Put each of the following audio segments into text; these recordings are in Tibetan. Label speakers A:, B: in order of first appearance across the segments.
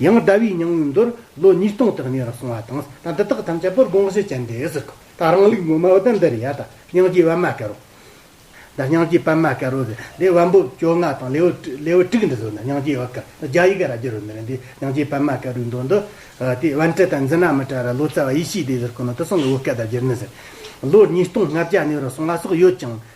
A: ཡང་ཟླ་བའི་ཉིང་མོའི་མདོར་ལོ་ཉིས་སྟོང་དག་གནས་རུ་སོང་བ་དང་ད་འདི་དག་ཐམས་ཅད་པོར་དགོངས་བཞེས་བྱས་འདི་ཟིག་གོ། ད་རང་ལུགས་ངོ་མ་བ་དན་འདི་རེད་ཡ་ད་སྙིང་རྗེའི་བ་མ་ཀེར་རོ། ད་སྙིང་རྗེའི་བ་མ་ཀེར་རོ་ཟེར་འདི་བ་འབུབ་ཅོ་ལྔ་དང་ལེའུ་ལེའུ་དྲུག་འདི་བཟོ་ན་སྙིང་རྗེའི་བ་ཀེར་ད་རྒྱ་ཡི་གེ་ར་རྒྱུ་རུ་མི་རུང་འདི་སྙིང་རྗེའི་བ་མ་ཀེར་རོའི་མདོ་འདི། དེ་བན་ཏྲི་དང་འཛི་ན་མི་ཏྲ་ར་ལོ་ཙཱ་བ་ཡེ་ཤེས་འདི་ཟེར་གོ་ནོ་དེ་སོང་གི་བོད་སྐད་ད་རྒྱུར་ནི་ཟེར། ལོ་ཉིས་སྟོང་ལྔ་བརྒྱ་གནས་རུ་སོང་བ་སོགས་ཡོད་ཅིང།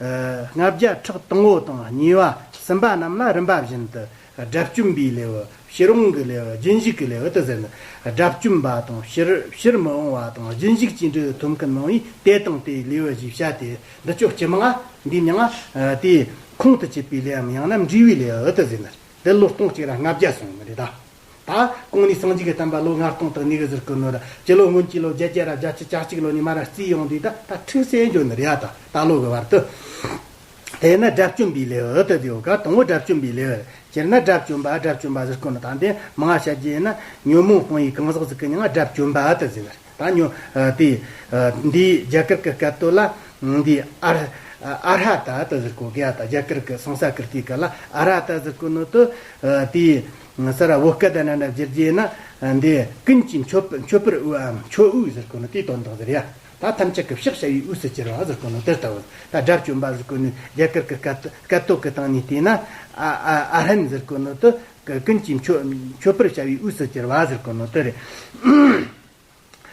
A: ལྔ་བརྒྱ་ཕྲག་དང་བོ་དང་གཉིས་པ་སུམ་པ་རྣམས་ལ་རིམ་པ་བཞིན་དུ་དགྲ་བཅོམ་པའི་ལེའུ་ཕྱིར་འོང་གི་ལེའུ་རྒྱུན་བཞུགས་ཀྱི་ལེའུ་དུ་ཟིན། དགྲ་བཅོམ་པ་དང་ཕྱིར་ཕྱིར་མི་འོང་བ་དང་རྒྱུན་བཞུགས་ཅི་འདྲའི་ཐུམ་གུ་སྣང་བས་དེ་དང་དེའི་ལེའུ་བཞི་བྱ་སྟེ་འདི་ཅོག་སྤྱི་མངའ་འདི་མྱི་མངའ་དེས་ཁོང་དུ་ཆུད་པའི་ལེའམ་ཡང་ན་འབྲས་བུའི་ལེའུ་དུ་ཟིན། འདི་ལོ་སྟོང་གཅིག་ར་ལྔ་བརྒྱ་སོང་ངོ་རེ་ད། ད། གོང་ནས་སངས་རྒྱས་ཀྱི་བསྟན་པ་ལོ་ལྔ་སྟོང་དང་ཉི་ཤུ་ཟུར་བཀོད་ནོར་ར། སྤྱི་ལོ་སྔོན་གྱི་ལོ་བརྒྱད་བརྒྱད་ར་བརྒྱ་ཆུ་བྱ་གཅིག་ལོ་ནས་མ་ར་བརྩིས་ཡོང་དུས་ད་ལྟ་ཁྲི་སྲས་འབྱོན་ནོར་ཡ་དང་ད་ལོ་གི་བར་དུ། དེས་ན་དགྲ་བཅོམ་པའི་ལེའུ་འུ་ཐུག་དེའུ་ག་དང་བོ་དགྲ་བཅོམ་པའི་ལེའུ་རེད། སྤྱིར་ན་དགྲ་བཅོམ་པ་དགྲ་བཅོམ་པ་ཟེར་དཀོན་ནོ་ད་འདི་མང་བཤད་རྒྱུ་ཡིན་ན། ཉོན་མོངས་སྤང་ཡུལ་གང་ཟག་གཟུགས་ཀྱི་མྱ་ངན་དགྲ་བཅོམ་པ་དུ་ཟེར་བ་རེད་ད་ཉོན། དེ། འདིའི་རྒྱ་གར་གྱི་སྐད་དོད་ལ། འདི། ཨ། ཨ་རྷ་ཏཱ་དུ་ཟེར་དཀོན་གི་ཡ་དང་རྒྱ་གར་གྱི་སངས་ས་ཀིརྟིའི་སྐད་ལ་ཨ་ར་ཏཱ་ཟེར་དཀོན་ནོ་དུ། དེའི། ངྷ་ས་ར་བོ་སྐད་དང་ནཱ་ན་བརྗེ་རྗེས་ན་འདི་ཀུན་གྱི་མཆོད་མཆོད་པར་དབུལ་བའམ་མཆོད་དབུལ་ཟེར་དགོས་ནི་དེའི་དོན་དང་ཟེར་ཡ། ད་ཐམས་ཅད་ཀྱི་བཤགས་བྱ་བའི་དབུས་སུ་གྱེར་བ་ཟེར་དགོས་ནི་དེ་ལྟ་བུ། ད་དགྲ་བཅོམ་པ་ཟེར་དགོས་ནི་རྒྱ་གར་གྱི་སྐད་སྐད་དོད་ཀྱི་སྟེང་ནས་བལྟས་ན། ཨ་ཨ་ཨ་ཧྲན་ཟེར་དགོས་ནི་དེ། ཀུན་གྱི་མཆོད་མཆོད་པར་བྱ་བའི་དབུས་སུ་གྱེར་བ་ཟེར་དགོས་ནི་དེ་རེད།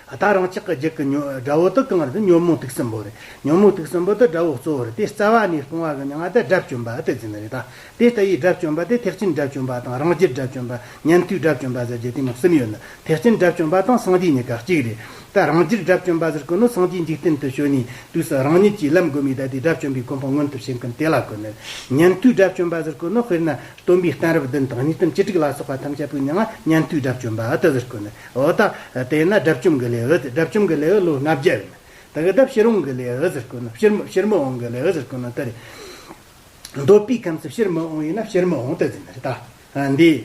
A: ད་རང་ཅག་གི་རྒྱུད་ཀྱི་དགྲ་བོ་དག་གང་རེད་ཉོན་མོངས་དུག་གསུམ་པོ་རེད། ཉོན་མོངས་དུག་གསུམ་པོ་དེ་དགྲ་བོ་གཙོ་བོ་རེད་དེ་རྩ་བ་ནས་སྤོང་བ་གི་མྱང་འདས་དགྲ་བཅོམ་པ་དེ་ཟིན་རེད་ད། དེ་ལྟ་ཡི་དགྲ་བཅོམ་པ་དེ་ཐེག་ཆེན་དགྲ་བཅོམ་པ་དང་རང་རྒྱུད་དགྲ་བཅོམ་པ་ཉན་ཐོས་དགྲ་བཅོམ་པ་ཟེར་རྒྱུ་དེ་རྣམས་གསུམ་ཡོད་ནི་ཐེག་ཆེན་དགྲ་བཅོམ་པ་དང་སངས་རྒྱས་གཉིས་ཀ་གཅིག་རེད། ད་རང་རྒྱུད་དགྲ་བཅོམ་པ་ཟེར་ཀུན་ནོ་སངས་རྒྱས་འཇིག་རྟེན་དུ་བྱོན་ནས་དུས་སུ་རང་ཉིད་ཀྱིས་ལམ་དགོས་མེད་ད་དེ་དགྲ་བཅོམ་པའི་གོ་འཕང་མངོན་ཐུབ་བྱེད་མཁན་དེ་ལ་གོ་ནི། ཉན་ཐོས་དགྲ་བཅོམ་པ་ཟེར་ཀུན་ནོ་དཔེར་ན་སྟོན་པའི་གཏན་རབས་བདུན་དང་ཉིས་སྟོང་བཅུ་དྲུག་ལ་སོགས་པ་ཐམས་ཅད་པོའི་མྱང་ཉན་ཐོས་དགྲ་བཅོམ་པ་དེ་ཟེར་ཀུན་ནི། འོ་ད་དེས་ན་དགྲ་བཅོམ་གྱི་ལས་འོད་དགྲ་བཅོམ་གྱི་ལས་འོད་ལོ་ལྔ་བརྒྱ་ཡོད། ད་གི་དགྲ་ཕྱིར་འོང་གི་ལས་འོད་ཟེར་ཀུན། ཕྱིར་མི་འོང་གི་ལས་འོད་ཟེར་ཀུན་ལྟ་རེ། འདོད་པའི་ཁམས་སུ་ཕྱིར་མི་འོང་ཡིན་ན་ཕྱིར་མི་འོང་ལྟ་ཟིན་རེ་ད། འདི།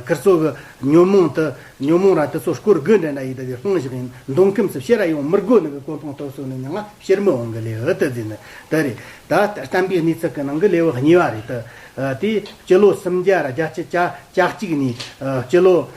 A: ཁིར་ཚོགས་ཀྱི། ཉོན་མོངས་དུ། ཉོན་མོངས་ར་དེ་ཚོ་སྐོར་དགུ་འདྲེན་ན་ཡི་དག་གི་ལྷུང་བཞག་ཡིན། མདུང་ཁམས་སུ་ཕྱི་ར་ཡོང་མིར་དགོས་ནི་གི་ཀོ་འཕང་ཐོག་སོགས་ནི་མྱང་ང་ཕྱིར་མི་འོང་གི་ལས་འོད་ལྟ་ཟིན་ལྟ་རེ། ད་ལྟར་བསྟན་པའི་གནས་ཚུལ་གྱི་ནང་གི་ལས་འོད་གཉིས་པ་རེ་ད། དེ། སྤྱི་ལོ་སུམ་བརྒྱ་ར་བརྒྱ་ཆ་བརྒྱ་ཆ་གཅིག་ནས། སྤྱི་ལོ།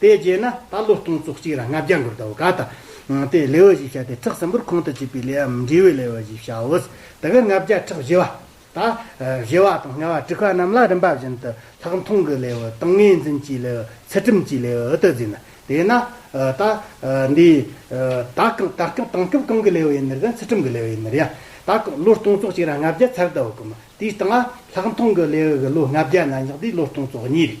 A: དེ་རྗེས་ན་ད་ལོ་སྟོང་བཅུ་གཅིག་ར་ལྔ་བརྒྱ་འགོར་ཟླ་བ་ག་དང། དེ་ལེ་བ་བཞི་བྱ་སྟེ་ཁྲག་ཟིམ་པོར་ཁོང་དུ་ཆུད་པའི་ལེ་བའམ་འབྲས་བུའི་ལེ་བ་བཞི་བྱའོ། དེ་གར་ལྔ་བརྒྱ་ཕྲག་བཞི་བ། ད་བཞི་བ་དང་ལྔ་བ་དྲུག་བ་རྣམས་ལ་རིམ་པ་བཞིན་དུ་ལྷག་མཐོང་གི་ལེ་བའི་དང་ངེས་འཛིན་གྱི་ལེ་བའི་ཚུལ་ཁྲིམས་ཀྱི་ལེ་བའི་དུ་འཛིན་ན། དེས་ན། ད་འདི། ད་གང་ད་སྐབས་དང་སྐབས་གང་གི་ལེ་བ་ཡིན་ནར་ཡང་ཚུལ་ཁྲིམས་ཀྱི་ལེ་བ་ཡིན་ནར་ཡང། ད་ལོ་སྟོང་བཅུ་གཅིག་ར་ལྔ་བརྒྱ་ཚར་ཟླ་བ་གོ། དེའི་སྟེང་ལ་ལྷག་མཐོང་གི་ལེ་བའི་ལོ་ལྔ་བརྒྱ་ན་བཞག་དེའི་ལོ་སྟོང་བཅུ་གཉིས་རེད།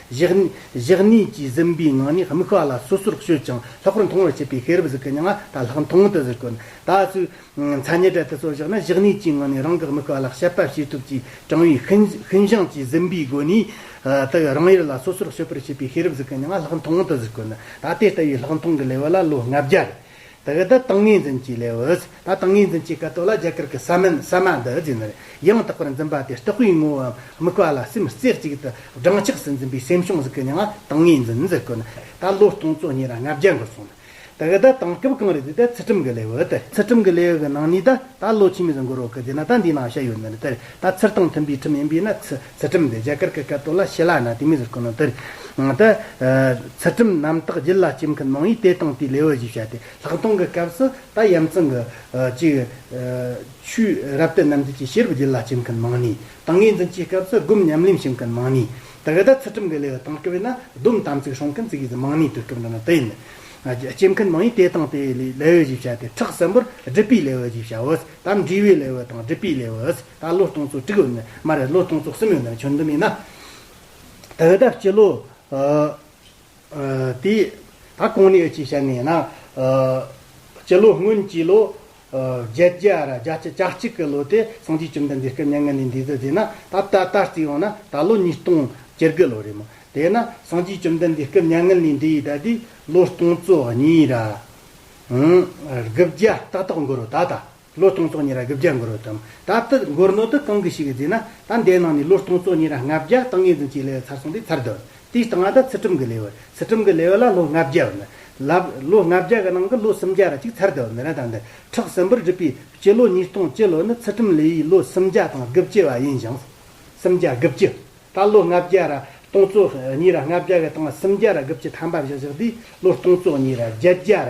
A: གཞག་གནས་ཀྱི་གཟིམ་པའི་ངང་ནས་མིག་ཤ་ལ་སོ་སོར་བྱོས་ཀྱང་ལྷག་པར་མཐོང་བར་བྱེད་པའི་ཤེས་རབ་གཟུགས་ཀྱི་མྱ་ངན་དང་ལྷག་མཐོང་དུ་གྱུར། ད་གཟོད། མཚན་ཉིད་གྲལ་དུ་སོར་བཞག་ན་གཞག་གནས་ཀྱི་ངང་ནས་རང་གི་མིག་ཤ་ལ་དཔྱད་པ་བྱེད་ཐུབ་ཅེས་དྲང་བའི་ཤིན་སྦྱངས་ཀྱི་གཟིམ་པའི་སྒོ་ནས། དག་རང་ཡུལ་ལ་སོ་སོར་བྱོས་པར་བྱེད་པའི་ཤེས་རབ་གཟུགས་ཀྱི་མྱ་ངན་ལྷག་མཐོང་དུ་གྱུར། ད་དེ་ལྟ་བུའི་ལྷག་མཐོང་གི་ལེ་བལ་ལ་ལོ་ལྔ་བརྒྱ་རེ། ད་ག་ད་ཏང་ངེ་འཛིན་གྱི་ལས་བུད། ད་ཏང་ངེ་འཛིན་གྱི་ཀ་ཏོ་ལ་རྒྱ་གར་གྱི་ས་མིན་ས་མ་འདི་རྫུས་ནས་ཡང་དག་པར་འཛིན་པ་དེ་རྟོགས་པའི་ངོ་བོའམ་དམིགས་པ་ལ་སེམས་རྩེ་གཅིག་ཏུ་སྦྲང་ཆགས་སུ་འཛིན་པའི་སེམས་བྱུང་གཟུགས་ཀྱི་མྱ་ངན་ཏང་ངེ་འཛིན་འཛིན་དགོས་ན་ད་ལོ་སྟོང་ཚོ་གཉིས་ར་ལྔ་བརྒྱ་འགོར་སོང་ད་ག་ད་ཏང་སྐབས་གང་རེད་དེ་ད་ཚུལ་ཁྲིམས་གྱི་ལས་བུད། ཚུལ་ཁྲིམས་གྱི་ལས་བུད་གི་ནང་ནས་ད་ད་ལོ་ཕྱི་མིས་འགོར་བ་གི་དེ་ན་ད་འདི་ནང་བཤད་ཡོད་ནི་ད་ཚུལ་དང་མཐུན་པའི་ཁྲིམས་ཡིན་པས་ན་ཚུལ། ཚུལ་ཁྲིམས་ལས་རྒྱ་གར་གྱི་བཀའ་བསྟོད་ལ་ཞེ་ལ་ན་ཏི་མི་ཟུར་ཁོ་ན་དེར། ཏི། ཚུལ་ཁྲིམས་རྣམ་དག་རྒྱུད་ལ་སྐྱེམས་མཁན་མང་བས་དེ་དང་དེའི་ལེའུར་གཞིགས་བྱ་སྟེ་ལྷག་མཐོང་གི་སྐབས་སུ་ད་ཡམ་ཚང་གི། ཅིག། ཆུའི་རབ་བསྟོད་རྣམ་འབྱེད་ཀྱི་ཤེས་རབ་རྒྱུད་ལ་སྐྱེམས་མཁན་མང་ནི། ཏང་གི་འཛིན་གྱི་སྐབས་སུ་སྒོམ་ཉམས་ལེན་བྱེད་མཁན་མང་ནི། ད་ག་དག་ཚུལ་ཁྲིམས་ཀྱི་ལེའུ་དང་སྐབས་ཡིན་ན་སྡོམ་དམ་ཚིག་སྲུང་མཁན་ཚིག་གིས་མང་ནི་དུས་སྐབས་འདི་ན་ཏི། སྐྱེམས་མཁན་མང་བས་དེ་དང་དེའི་ལེའུར་གཞིགས་བྱ་སྟེ་ཁྲག་གསལ་འབུར་སྒྲིབ་པའི་ལེའུར་གཞིགས་བྱའོ། དམ་འདྲིས་པའི་ལེའུ་དང་སྒྲིབ་པའི་ལེའུ། ད་ལོ་སྟོང་ཚོ་དྲུག་ནི་མ་རེད་ལོ་སྟོང་ཚོ་གསུམ་ཡོང་ནའི་ཆོ་འདི་མིན་ན། ད་ལྟ་སྤྱི་ལོ། དེ། ད་གང་ནས་ཡོད་ཅེས་བཤད་ནས་ན། སྤྱི་ལོ་སྔོན་སྤྱི་ལོ། བརྒྱད་བརྒྱ་ར་བརྒྱ་བརྒྱ་ཆ་གཅིག་གི་ལོ་དེ་སངས་རྒྱས་བཅོམ་ལྡན་འདས་སྐལ་ལྔ་ནས་འདས་དུས་དེ་ན་ད་ལྟ་ད་རྩིས་ཡོང་ན་ད་ལོ་ཉིས་སྟོང་བཅུ་དགུ་ལོ་རེད་མོད་དེས་ན་སངས་རྒྱས་བཅོམ་ལྡན་འདས་སྐལ་ཉང་ངུ་ནས་འདས་ཡས་ད་དུས་ལོ་སྟོང་ཚོ་གཉིས་ར། དགུ་བརྒྱ་ཏག་ཏག་འགོར་རོ་ད་ད། ལོ་སྟོང་ཚོ་གཉིས་ར་དགུ་བརྒྱ་འགོར་བ་དང་ད་ལྟ་མགོར་ནོར་དུ་གང་གི་ཞིག་གིས་བརྫིས་ན་ད་འདའི་ནང་ནས་ལོ་སྟོང་ཚོ་གཉིས་ར་ལྔ་བརྒྱ་དང་ངེ་འཛིན་གྱི་ལེ་བ་ཚར་སོང་དུས་ཚར་འདུག་དེའི་སྟེང་ཨ་ད་ཚུལ་ཁྲིམས་གི་ལེ་བ་ཚུལ་ཁྲིམས་གི་ལེ་བ་ལ་ལོ་ལྔ་བརྒྱ་བར་ལབ་ལོ་ལྔ་བརྒྱ་གི་ནང་གི་ལོ་སུམ་བརྒྱ་ར་གཅིག་ཚར་འདུག་མི་ར་ད་འདི་ཁྲག་སིམ་པོར་བསྒྲིབས་པའི་སྤྱི་ལོ་ཉིས་སྟོང་སྤྱི་ལོ་ནི་ཚུལ་ཁྲིམས་ལེ་ཡི་ལོ་སུམ་བརྒྱ་དང་དགུ་བཅུ་བ་ཡིན་ཞིང། སུམ་བརྒྱ་དགུ་བཅུ། ད་ལོ་ལྔ་བརྒྱ་ར་སྟོང་ཚོ་གཉིས་ར་ལྔ་བརྒྱ་གི་སྟེང་ལ་སུམ་བརྒྱ་ར་དགུ་བཅུ་ཐམ་པ་བཞག་བཞག་དུས་ལོ་སྟོང་ཚོ་གཉིས་ར་བརྒྱད་བརྒྱ་ར་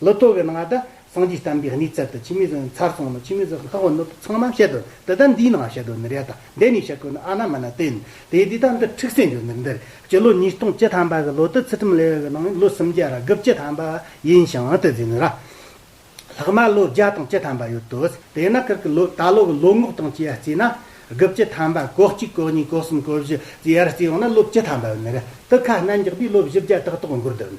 A: ལོ་ཐོ་བའི་ནང་དུ་སངས་རྒྱས་བསྟན་པའི་གནས་ཚད་དུ་ཕྱི་མི་ཟོས་ནས་མཚར་སོང་ནས་ཕྱི་མི་ཟོས་ནས་ལྷག་བ་ནོར་དུ་ཚང་མ་བཤད་དོ་འདི་ལྟར་འདིའི་ནང་བཤད་དོ་ནི་རེད་དང་འདི་ནས་བཤད་དགོས་ནི་ཨ་ན་མ་ན་བསྟན་དེ་འདི་ལྟར་འདི་འཁྲིག་སེ་འགྱོ་ནི་འདིར་སྤྱི་ལོ་ཉིས་སྟོང་བཅུ་ཐམ་པ་གི་ལོ་དུ་ཚིགས་ཁྲིམས་ལས་འོས་པའི་ནང་ལོ་སུམ་བརྒྱ་ར་དགུ་བཅུ་ཐམ་པ་ཡིན་ཞིང་དེ་ཟིན་ནི་ར་ལྷག་མ་ལོ་བརྒྱ་དང་བཅུ་ཐམ་པ་ཡོད་དོ་དེས་ན་ཁིར་གི་ལོ་ད་ལོ་གི་ལོ་ངོ་སྟོང་བཅུ་ཡར་བརྩིས་ན་དགུ་བཅུ་ཐམ་པ་གོ་གཅིག་གོ་གཉིས་གོ་གསུམ་གོ་བཞི་བཅུ་ཡར་བརྩིས་ཡོང་ན་ལོ་བཅུ་ཐམ་པ་ཡོད་ནི་རེད་དུ་ཁ་སྣ་འགྱག་པའི་ལོ་བཞི་བརྒྱ་དག་ཏོག་འགོར་དོ་ནི་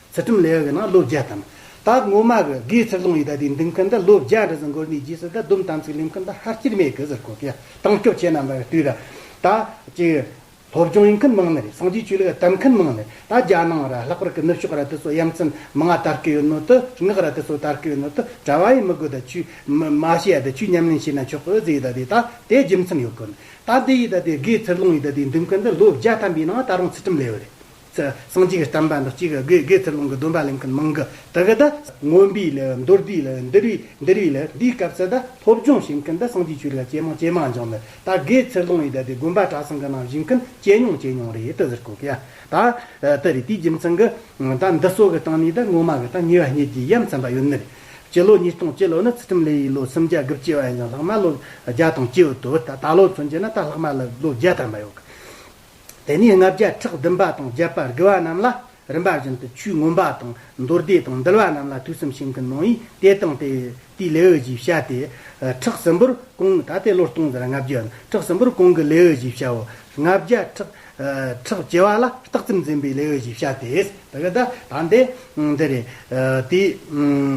A: ཚུལ་ཁྲིམས་ལས་གནང་བློ་རྒྱ་དམ། དག་ངོ་མ་གི་དགེའི་ཚིག་ལུང་ཡི་དྭགས་དེའི་འདུན་ཁ་འདི་བློ་རྒྱ་འདྲི་ཟིན་གོ་གནས་རྗེས་སུ་དད་དུམ་དམ་ཚིག་ལེམ་ཁ་འདི་ཧར་སྐྱེར་མེད་གི་ཟེར་གོ་གི་དང་སྐྱོབ་བྱེད་རྣམས་པར་དུས་ར་ད་ཅིག། སློབ་སྦྱོང་ཡིན་མཁན་མང་ནི་རེད་སངས་རྒྱས་ཆོས་ལུགས་དད་མཁན་མང་ནི་རེད་ད་རྒྱ་ནང་ར་ལྷག་པར་གི་ནུབ་ཕྱོགས་ར་དེ་ཚོ་ཡ་མཚན་མི་ང་དར་གི་ཡོད་ནོ་དུ་ངག་ར་དེ་ཚོ་དར་གི་ཡོད་ནོ་དུ་གྲྭ་བ་ཡིན་མི་དགོས་ད་ཆུས་མ་བྱེད་ཡ་ད་ཆུས་ཉམས་ལེན་བྱེད་ན་ཆོག་གི་ཨོ་ཛི་ཡི་དྭགས་དེ་ད་དེ་རྒྱུ་མཚན་ཡོད་གོ་ནི་ད་འདི་ཡི་དྭགས་དེའི་དགེའི་ཚིག་ལུང་ཡི་དྭགས་དེའི་འདུན་ཁ་འདི་བློ་རྒྱ་དམ་པའི་ནང་ད་རུང་ཚུལ་ཁྲིམས་ལས་འོད་རེད། སངས་རྒྱས་ཀྱི་གཏམ་དཔེ་འདི་གཅིག་གི་དགོས་དགེ་ཚུལ་སློང་གི་སྡོམ་པ་ལེན་མཁན་མང་གི་དག་གི་དག། མངོན་པའི་ལས་ལ་མདོར་བསྡུས་ལ་འདིར་བས་འདིར་བས་ལ་འདིའི་སྐབས་སུ་དག་སློབ་སྦྱོང་བྱེད་མཁན་དག་སངས་རྒྱས་ཆོས་ལ་ཇེ་མང་ཇེ་མང་སྦྱོང་ནི་དག་དགེ་ཚུལ་སློང་ཡི་དག་དེ་དགོན་པ་གྲྭ་ཚང་གི་ནང་བཞུགས་མཁན་ཇེ་ཉུང་ཇེ་ཉུང་རེད་དུ་ཟེར་གོ་གི་ཡ་དག་དུ་རེད་དེའི་རྒྱུ་མཚན་གི་དག་འདི་སོགས་ཀྱི་སྟེང་ནས་དག་ངོ་མ་གི་དག་ཉེ་བ་གཉིས་ཀྱི་ཡ་མཚན་པ་ཡོད་ནི་རེད། སྤྱི་ལོ་ཉིས་སྟོང་སྤྱི་ལོ་ནི་ཚུལ་ཁྲིམས་ལས་ཡིན་ལོ་སུམ་བརྒྱ་དགུ་བཅུ་བ་ཡིན་ཀྱང་ལྷག་མ་ལོ་བརྒྱ་དང་བཅུ་དུ་བུད་ད་ལོ་ཚུན་ཆད་ན་དག་ལྷག་མ་ལོ་བརྒྱ་ཐམ་པ་ཡོད་གི་དེ་ནས་ལྔ་བརྒྱ་ཕྲག་བདུན་པ་དང་བརྒྱད་པར་དགེ་བ་རྣམས་ལ་རིམ་པ་བཞིན་དུ་ཆུས་ངོམས་པ་དང་མདོར་བཟླས་དང་འདུལ་བ་རྣམས་ལ་དུས་གསུམ་ཤིང་གི་ནང་ཡིས་དེ་དང་དེ་དེའི་ལེའུ་བཞི་བྱ་སྟེ། ཁྲག་སྲིན་པོར་གང་ད་ལྟའི་ལོར་སྟོང་དང་ལྔ་བརྒྱ་ཡོད་ན་ཁྲག་སྲིན་པོར་གང་གི་ལེའུ་བཞི་བྱའོ། ལྔ་བརྒྱ་ཕྲག་ཕྲག་བྱེ་བ་ལ་རྟགས་ཙམ་འཛིན་པའི་ལེའུ་བཞི་བྱ་སྟེ། ད་ག་ད་ད་འདི་འདི་རེད། དེ་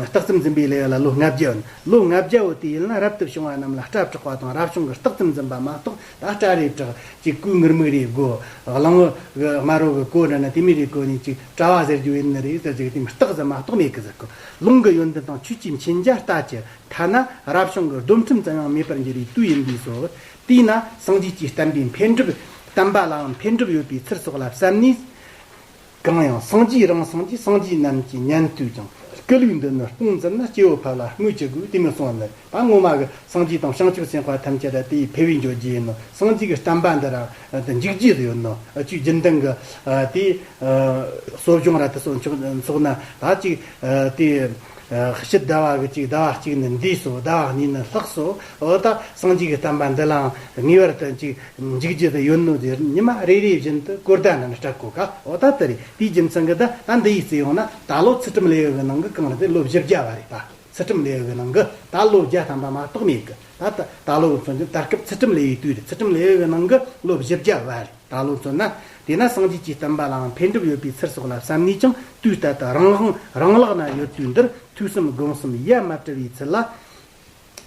A: རྟགས་ཙམ་འཛིན་པའི་ལེའུ་ལ་ལོ་ལྔ་བརྒྱ་ཡོད་ན་ལོ་ལྔ་བརྒྱའོ་དེ་ཡིན་ན་རབ་ཏུ་བྱུང་བ་རྣམས་ལ་སྐྲ་བྲེག་པ་དང་རབ་བྱུང་གི་རྟགས་ཙམ་འཛིན་པ་མ་གཏོགས་ད་སྐྲ་རེ་བྲག་གཅིག་སྐུ་ངར་མིག་རེ་དགོ། གླང་བོ་གི་དམར་རོ་གི་གོ་འདྲ་ན་དེ་མི་རེ་གོ་ནི་ཅིག་སྐྲ་བ་ཟེར་རྒྱུ་ཡིན་ནི་རེད་ཟེར་གྱི་དེ་མི་རྟག་ཟེར་མ་རྟོག་མེད་གི་ཟེར་གི། ལུང་གི་ཡོན་ཏན་དང་ཆོས་ཀྱི་མཁྱེན་རྒྱ་ལྟ་ཅི། ཐ་ན་རབ་བྱུང་གི་སྡོམ་ཁྲིམས་ཙམ་ཡང་མེད་པར་འགྱུར་བའི་དུས་ཡིན་པས་སོ། དེས་ན་སངས་རྒྱས་ཀྱིས་བསྟན་པའི་འཕེལ་འགྲིབ། བསྟན་པ་ལའང་འཕེལ་འགྲིབ་ཡོད་པའི་ཚུལ་སོགས་ལ་བསམ་ནས། གང་ཡང་སངས་རྒྱས་རང་སངས་རྒྱས་སངས་རྒྱས་རྣམས་ཀྱི་ཉན་ཐོས་ཀྱང་སྐད་ལུགས་འདི་ནི་སྤུངས་ཙམ་ན་སྐྱེ་བོ་ཕལ་ལ་སྨོས་ཅི་དགོས་དེ་མི་གསུང་ནི་ད་སྔོན་མ་གི་སངས་རྒྱས་དང་བྱང་ཆུབ་སེམས་དཔའ་ཐམས་ཅད་དེ་ཡི་ཕལ་བའི་འཇོག་རྒྱུ་ཡིན་ནོ་སངས་རྒྱས་ཀྱི་བསྟན་པ་འདི་རང་དུ་འཇིག་རྒྱུ་ཡོད་ནོ་ཆོས་རྒྱུན་དང་གི་དེ་གསོ་སྦྱོང་ར་དེ་སོགས་མཆོག་ན་ད་ཅིག་དེ་ཕྱི་ཟླ་བ་གི་ཅིག་ཟླ་བ་གཅིག་ནི་འདས་སོ་ཟླ་བ་གཉིས་ནི་ལྷགས་སོ་ད་སངས་རྒྱས་ཀྱི་བསྟན་པ་འདི་ལའང་ངེས་པར་དུ་འཇིག། འཇིགས་བྱེད་དུ་ཡོད་ནོ་དེར་ཉི་མ་རེ་རེ་བཞིན་དུ་དཀོར་ཟླ་རྣམས་སྐྲག་གོ་ཁའོ་ད་ལྟ་རེད་དེའི་རྒྱུ་མཚན་གྱི་ད་ལྟ་འདི་ཡིས་བརྩི་ཡོང་ན་ད་ལོ་ཚུལ་ཁྲིམས་ལས་འོས་པའི་ནང་གི་གང་རེད་དེ་ལོ་བཞི་བརྒྱ་བ་རེད་པ་ཚུལ་ཁྲིམས་ལས་འོས་པའི་ནང་གི་ད་ལོ་བརྒྱ་ཐམ་པ་མ་གཏོགས་མེད་གི་ད་ལྟ་ད་ལོ་མཚོན་ཅིང་ད་སྐབས་ཚུལ་ཁྲིམས་ལས་འོས་དུས་རེད་ཚུལ་ཁྲིམས་ལས་འོས་པའི་ནང་གི་ལོ་བཞི་བརྒྱ་བ་རེད་ད་ལོ་མཚོན་ན་དེས་ན་སངས་རྒྱས་ཀྱི་བསྟན་པ་ལའང་འཕེལ་འགྲིབ་ཡོད་པའི་ཚུལ་སོགས་ལ་བསམ་ནས་ཀྱང་དུས་ལྟར་དུ་རང་དབང་རང་ལག་ན་ཡོད་དུས་འདིར་ཐོས་བསམ་སྒོམ་གསུམ་ཡ་མ་བྲི་བའི་ཚུལ་ལ།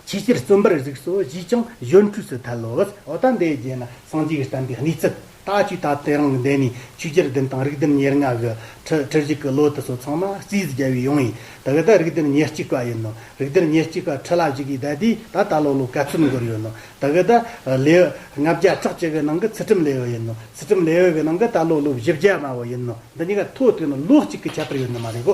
A: ཆེས་སྤྱིར་བརྩོན་པར་གཟིགས་སོ་ཞེས་ཀྱང་གཞོན་འཕྲུལ་སུ་ཐལ་ལོ། འོ་ད་འདས་རྗེས་ན་སངས་རྒྱས་བསྟན་པའི་གནས་ཚུལ། ད་ཆོས་ད་ལྟའི་རང་གི་འདས་ནས་ཆོས་རྒྱལ་བདུན་དང་རིགས་བདུན་ཉེར་ལྔ་གི། ཁྲི་ཁྲི་བཞི་གི་ལོ་དུ་སོ་ཚང་མ་རྩིས་རྒྱལ་བའི་ཡོང་ཡིན། དག་ད་རིགས་བདུན་ཉེར་གཅིག་པ་ཡིན་ནོ། རིགས་བདུན་ཉེར་གཅིག་པ་ཁྲི་ལ་བཞི་གིས་འདས་དུས་ད་ད་ལོ་ལོ་ག་ཚོད་འགོར་ཡོད་ནོ། དག་ད་ལེའུ་ལྔ་བརྒྱ་ཕྲག་གཅིག་གི་ནང་གི་ཚུལ་ཁྲིམས་ལེའུ་ཡིན་ནོ། ཚུལ་ཁྲིམས་ལེའུ་གི་ནང་གི་ད་ལོ་ལོ་བཞི་བརྒྱ་པའོ་ཡིན་ནོ། འདི་གཉིས་ཀ་ཐོ་ཐོས་ན་ལོ་གཅིག་གི་ཁྱད་པར་ཡོད་ནི་མ་རེད་གོ།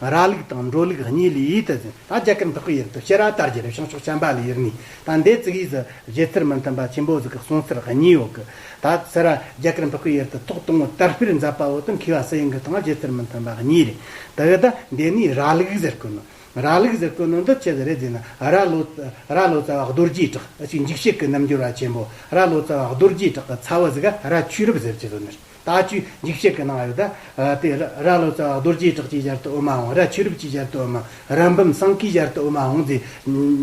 A: ར་ལུག་དང་འབྲོ་ལུག་གཉིས་ལས་ཡིད་དུ་འཛིན་ད་རྒྱ་གར་འདི་ཀོ་ཡིག་ཏུ་ཤེས་ར་དར་རྒྱལ་བྱང་ཕྱོགས་བྱམས་པ་ལས་ཡུལ་ནས་ད་འདས་ཙིག་ཡིག་གཟི་བརྗིད་ཚུལ་མི་མཐུན་པ་ཆེན་པོ་གཟིགས་ཀྱི་གསུང་ཚུལ་གཉིས་ཡོད་ཀི་ད་ཚེ་ར་རྒྱ་གར་འདི་ཀོ་ཡིག་ཏུ་ཐོག་དང་བོ་དར་སྤེལ་མཛད་པ་བོ་དང་མཁས་པ་སི་ཡིན་གྱི་དང་བརྗིད་ཚུལ་མི་མཐུན་པ་གཉིས་རེད་དག་ད་འདས་ནས་ར་ལུག་ཟེར་གི་ནི་ར་ལུག་ཟེར་གི་ནི་འདི་ཆེ་ཟེར་རེ་ཟེར་ན་ར་ལོ་ར་ལོ་ཙཱ་བ་རྡོ་རྗེའི་བྲག་ཅིག་འཇིགས་བྱེད་ཀྱི་རྣམ་འགྱུར་བ་ཆེན་པོ་ར་ལོ་ཙཱ་བ་རྡོ་རྗེའི་བྲག་གི་ཚ་བོ་ཟིག་ག་ར་ཆོས་རབ་ཟེར་གྱི་ཟོ་ནི་རེད། ད་བཅུའི་འཇིགས་བྱེད་ཀྱི་སྣང་བ་ཡོད་དེ། དེ་ར་ལོ་ཙཱ་བ་རྡོ་རྗེའི་བྲག་ཅེས་སྦྱར་ཏེ་དབུ་མ་འོང་ར་ཆོས་རབ་ཅེས་སྦྱར་ཏེ་དབུ་མ་རབ་འབུམ་སངས་ཀྱིས་སྦྱར་ཏེ་དབུ་མ་འོང་རྫས།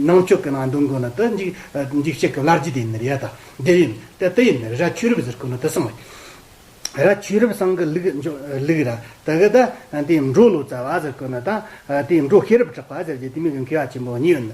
A: ནང་ཆོས་ཀྱི་སྣང་བ་འདོན་དགོས་ན་དེ། འཇིགས་བྱེད་ཀྱི་བླ་རྗེ་དེ་ནི་ཡ་ད་དེ་ཡིན། དེ་དེ་ཡིན་ར་ཆོས་རབ་ཟེར་དགོས་ན་དེ་སངས་རྒྱས། ར་ཆོས་རབ་སངས་ཀྱི་ལུགས་འཇོག་ལུགས་ར་དེ་གི་དེ། འབྲོག་ལོ་ཙཱ་བ་ཟེར་དགོས་ན་དེ། འབྲོག་ཤེས་རབ་གྲགས་པ་ཟེར་རྗེས་དེ་མིང་གི་འཁེལ་བ་ཆེན་པོ་གཉིས་ཡོད།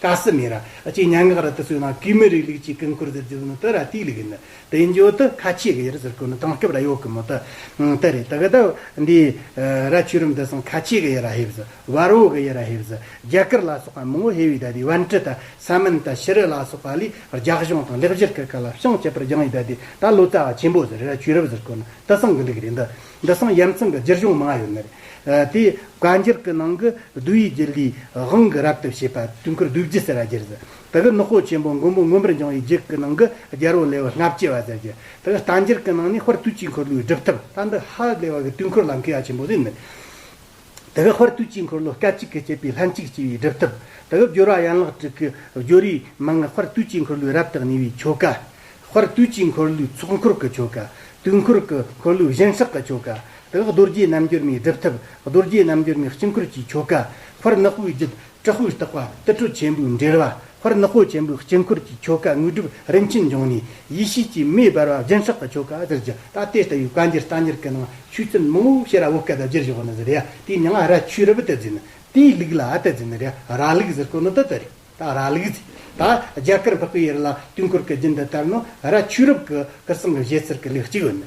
A: ཀ་སི་མི་ར་ཅེས་མྱ་ངག་ར་ཏི་སུའི་ནང་གུས་མི་རིགས་ལུགས་ཀྱི་ཀུན་འཁོར་ཟེར་རྒྱུ་ནི་དེ་ར་ཏིའི་ལུགས་ཡིན། དེ་འབྱོར་དུ་ཁ་ཆེ་གི་ཡེ་རི་ཟེར་སྐོར་ནི་དེང་སྐབས་ར་ཡོག་གི་མོ་ཏི་དེ་རེད། དག་དག་འདིས་ར་ཆོས་རིམ་དེ་སང་ཁ་ཆེ་གི་ཡེ་ར་ཧེབ་ཟི་བར་བོ་གི་ཡེ་ར་ཧེབ་ཟི་རྒྱ་གར་ལ་སོགས་པ་མང་བོ་ཧེ་བི་དཱ་དི་བན་ཏི་ཏ་ས་མན་ཏ་ཤི་རི་ལ་སོགས་པ་ལས་རྒྱག་གཞུང་དང་ལེགས་བཞེར་གི་ཀ་ལ་བཤང་བཅད་པར་སྦྱངས་ཡོད་དེ་ད་ལོ་ཙཱ་བ་ཆེན་པོ་ཟེར་ར་ཆོས་རབ་ཟེར་སྐོར་ནི་དེ་སང་གི་འགྲིག་རེད་འདི་འདི་སང་ཡར་མཚང་གི་རྒྱུ་གཞུང་མང་ཡོད་མོད། དེས་བཀའ་འགྱུར་གྱི་ནང་གི་གདུལ་བའི་རྒྱུད་ལུས་དབང་གི་རབ་ཏུ་བྱེད་པ་དུས་འཁོར་བདུད་བརྒྱུད་ཟེར་བ་གྱུར། དེ་གི་ནུ་ཧོ་ཆེན་པོ་མགོན་པོ་མངོན་པར་འབྱུང་བའི་རྒྱུད་ཀྱི་ནང་གི་རྒྱལ་པོ་ལེ་བར་སྔ་བསྐྱེད་བ་ཟེར་གྱུར། དེ་གི་བཀའ་འགྱུར་གྱི་ནང་ནས་ཧོར་དུས་ཀྱི་འཁོར་ལོའི་སྒྲུབ་ཐབས་ལྟར་འདི་ཧ་ལས་བ་གི་དུས་འཁོར་ལམ་ཁའི་ཡ་ཆེན་པོ་ཟེར་མོད། དེ་ག་བར་དུས་གཅིག་འཁོར་ལོ་སྐད་ཅིག་གིས་བསྐྱེད་པའི་ལྷན་ཅིག་སྐྱེས་པའི་སྒྲིབ་ཐབས། དེ་ག་སྦྱོར་བ་ཡན་ལག་དྲུག་གི་སྦྱོར་བའི་མན་ངག་བར་དུས་གཅིག་འཁོར་ལོའི་རབ་དང་ཉེ་བའི་ཆོ་ག། བར་དུས་གཅིག་འཁོར་ལོའི་ཚོགས་འཁོར་གྱི་ཆོ་ག། དུས་འཁོར་གྱི་འཁོར་ལོའི་བཞེངས་ཕྱག་གི་ཆོ་ག། དེ་ག་རྡོ་རྗེའི་རྣམ་འགྱུར་མའི་སྒྲུབ་ཐབས་རྡོ་རྗེའི་རྣམ་འགྱུར་མའི་དཀྱིལ་འཁོར་གྱི་ཆོ་ག། བར་ནག་པོའི་རྒྱུད་དྲག་ཤུལ་རྟག་པ་ཏི་སྤྲོ་ཆེན་པོའི་འགྲེལ་བ་ཧོར་ནག་པོ་ཆེན་པོའི་དཀྱིལ་འཁོར་གྱི་ཆོ་ག་དངོས་གྲུབ་རིན་ཆེན་འབྱུང་གནས་ཡེ་ཤེས་ཀྱི་མེ་སྦར་བ་སྦྱིན་སྲེག་གི་ཆོ་ག་ཟེར་རྒྱུ་ད་ལྟའི་ལྟ་བའི་བཀའ་འགྱུར་རྟ་འགྱུར་གྱི་ནང་ཆོས་ཚུལ་མང་བོ་ཤེས་རབ་བོད་སྐད་དུ་བསྒྱུར་ཞོག་ནི་ཟེར་ཡ་དེའི་མྱང་ཨ་ར་ཆོས་རབ་ཏི་ཟེར་ནི་དེའི་ལུགས་ལ་ཏི་ཟེར་ནི་ར་ར་ལུགས་ཟེར་དཀོན་ནོ་ཏི་ཏི་རེད་ད་ར་ལུགས་ཟེར་ད་རྒྱ་གར་འཕགས་པའི་ཡུལ་ལ་དུས་འཁོར་གྱི་རྒྱུན་དུ་ལྟར་ནོ་ར་ཆོས་རབ་གི་སྐུ་གསུང་གི་བཞེད་ཟེར་གྱི་ལུགས་གཅིག་ཡོད་ནི་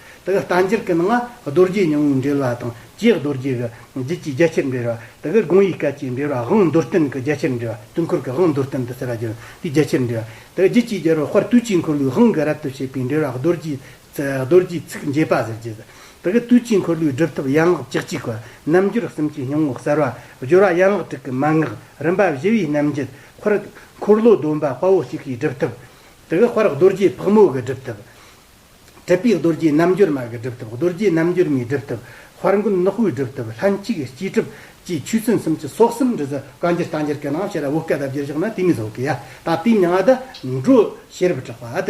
A: དེ་ག་རྟ་མཇལ་ཀུན་ལྔ་རྡོ་རྗེ་ཉུང་ངུའི་འགྲེལ་བ་དང་བཅས་རྡོ་རྗེ་གི་རྒྱུད་ཀྱི་རྒྱ་ཆེར་འགྲེལ་བ་དེ་ག་དགོངས་ཡིག་སྐད་ཀྱི་འགྲེལ་བ་དབང་མདོར་བསྟན་གྱི་རྒྱ་ཆེར་འགྲེལ་བ་དུས་འཁོར་གྱི་དབང་མདོར་བསྟན་དུ་ཟེར་བ་བརྒྱུད་འདུས་རྒྱ་ཆེར་འགྲེལ་བ་དེ་ག་རྒྱུད་ཀྱི་རྒྱལ་པོ་དཔལ་དུས་ཀྱི་འཁོར་ལོའི་དབང་གི་རབ་ཏུ་བྱེད་པའི་འགྲེལ་བ་རྡོ་རྗེ་རྡོ་རྗེའི་ཚིག་འབྱེད་པ་ཟེར་གྱི། དེ་ག་དུས་ཀྱི་འཁོར་ལོའི་སྒྲུབ་ཐབས་ཡན་ལག་བཅུ་གཅིག་པ་རྣམ་འབྱོར་གསུམ་གྱི་སྙིང་བོ་གསར་བ་སྦྱོར་བ་ཡན་ལག་དྲུག་གི་མན་ངག་རིམ་པ་བཞི་བའི་རྣམ་འབྱེད་འཁོར་འཁོར་ལོ་སྡོམ་པ་དཔའ་བོ་གཅིག་གི་སྒྲུབ་ཐབས་དེ་ག་དཔལ་རྡོ་རྗེ་ཕག་མོ་གི་སྒྲུབ་ཐབས། གྲུབ་པའི་རྡོ་རྗེའི་རྣམ་འགྱུར་མར་གྱི་སྒྲུབ་ཐབས་རྡོ་རྗེ་རྣམ་འགྱུར་མའི་སྒྲུབ་ཐབས་དཔར་མགོན་ནག་པོའི་སྒྲུབ་ཐབས་ལྷན་ཅིག་སྐྱེས་གྲུབ་ཀྱི་ཆོས་ཚན་གསུམ་གྱི་སྲོག་སེམས་འབྲུ་ཟ་བཀའ་འགྱུར་རྟ་འགྱུར་གྱི་ནང་ཤེས་རབ་བོད་སྐད་དབབ་བརྒྱུད་བཞག་ན་དེ་མིན་བཟོ་གི་ཡ་ད་དེ་མྱང་ཨ་ད་འགྲོ་ཤེས་རབ་གྲགས་པ་ཨ་ད་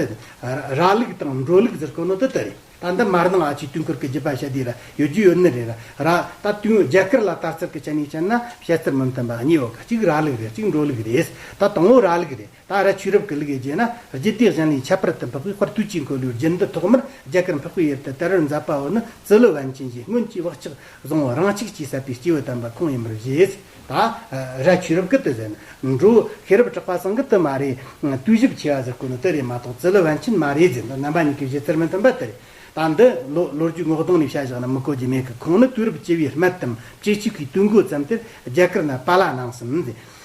A: ར་ལུགས་དང་འགྲོ་ལུགས་ཟེར་དཀོན་ནོ་དེ་ལྟ་རེད་ད་འདི་མར་ནང་ཨ་ཆུའི་དུས་འཁོར་གྱི་རྒྱུད་པ་ཤ་དེ་ར་ཡོད་རྒྱུ་ཡོད་ནི་རེད་ར་ར་ད་དུས་རྒྱ་གར་ལ་དར་ཚུལ་གྱི་ཆ་ནས་བཤད་ན་བཤད་ཚུལ་མི་མཐུན་པ་གཉིས་ཡོད་ག་གཅིག་ར་ལུགས་རེད་གཅིག་འགྲོ་ལུགས་རེད་ད་དང་བོ་ར་ལུགས་རེད། ད་ར་ཆོས་རབ་ཀྱི་ལུགས་ཡི་རྗེས་ན་རྗེ་དེ་བཞིན་ལས་ཁྱད་པར་དུ་འཕགས་པའི་དཔར་དུས་ཀྱི་འཁོར་ལོའི་རྒྱུན་དུ་ཐོག་མར་རྒྱ་གར་འཕགས་པའི་དབྱིབས་དུ་དལ་བུར་མཛད་པའོ་ནི་ཙི་ལུ་བན་ཆེན་གྱིས་སྔོན་གྱི་བག་ཆགས་བཟང་བོ་རང་ཆགས་ཀྱིས་ཟད་པའི་སྐྱེས་བུ་དམ་པ་ཁོང་ཡིན་པར་བཞེད། ད་ར་ཆོས་རབ་ཀྱི་དུས་ཟེར་ན་འགྲོ་བོ་ཤེས་རབ་གྲགས་པ་སངས་ཀྱི་དུས་མ་རེད། དུས་བཞི་བྱེ་བ་ཟེར་དགོས་ནི་དེ་རེད་མ་གཏོགས་ཙི་ལུ་བན་ཆེན་མ་རེད་ཟེར་ན་རྣམ་པ་གཉིས་ཀྱི་བཞེད་ཚུལ་མི་མཐུན་པ་དེ་རེད། ད་འདི་ལོ་ལོ་རྒྱུས་ངོ་གདོང་ནས་བཤད་བཞག་ན་མི་གོ་རྒྱུ་མེད་ཀི་ཁོང་ནི་དུས་རབས་བཅུ་བའི་སྨད་དམ་བཅུ་གཅིག་གི་དུས་འགོ་ཙམ་དེར་རྒྱ་གར་ན་པཱ་ལགས་ནང་སེམས་མཛད།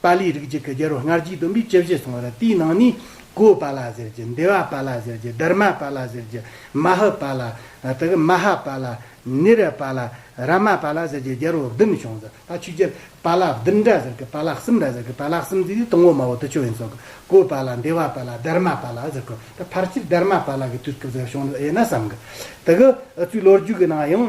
A: པཱ་ལིའི་རིགས་གཅིག་གི་རྒྱལ་པོ་སྔར་རྒྱུད་བསྡོམས་པའི་སྤྱི་བཞེད་སོང་བ་ལ་དེའི་ནང་ནས། ཀོའུ་པཱ་ལ་ཟེར་གྱི། འདེ་བ་པཱ་ལ་ཟེར་གྱི། དཱརྨ་པཱ་ལ་ཟེར་གྱི། མ་ཧཱུ་པཱ་ལ། དེ་གི་མ་ཧཱ་པཱ་ལ། ནི་ར་པཱ་ལ། ར་མ་པཱ་ལ་ཟེར་གྱི་རྒྱལ་པོ་བདུན་བྱུང་ཟེར། ད་ཆོས་རྒྱལ། པཱ་ལ་བདུན་འདྲ་ཟེར་གི་པཱ་ལ་གསུམ་འདྲ་ཟེར་གི་པཱ་ལ་གསུམ་འདི་དུས་དང་བོ་མ་བོ་དུས་ཆོས་ཡིན་ཟེར་གི། ཀོའུ་པཱ་ལ་འདེ་བ་པཱ་ལ་དཱརྨ་པཱ་ལ་ཟེར་གི། ད་ཕར་ཆེར་དཱརྨ་པཱ་ལ་གི་དུས་སྐབས་ཟེར་བྱུང་འདུག་དབྱེ་ན་བསམ་གི། དེ་གི། ཨི་ཙུའི་ལོ་རྒྱུས་ཀི་ནང་ཡང།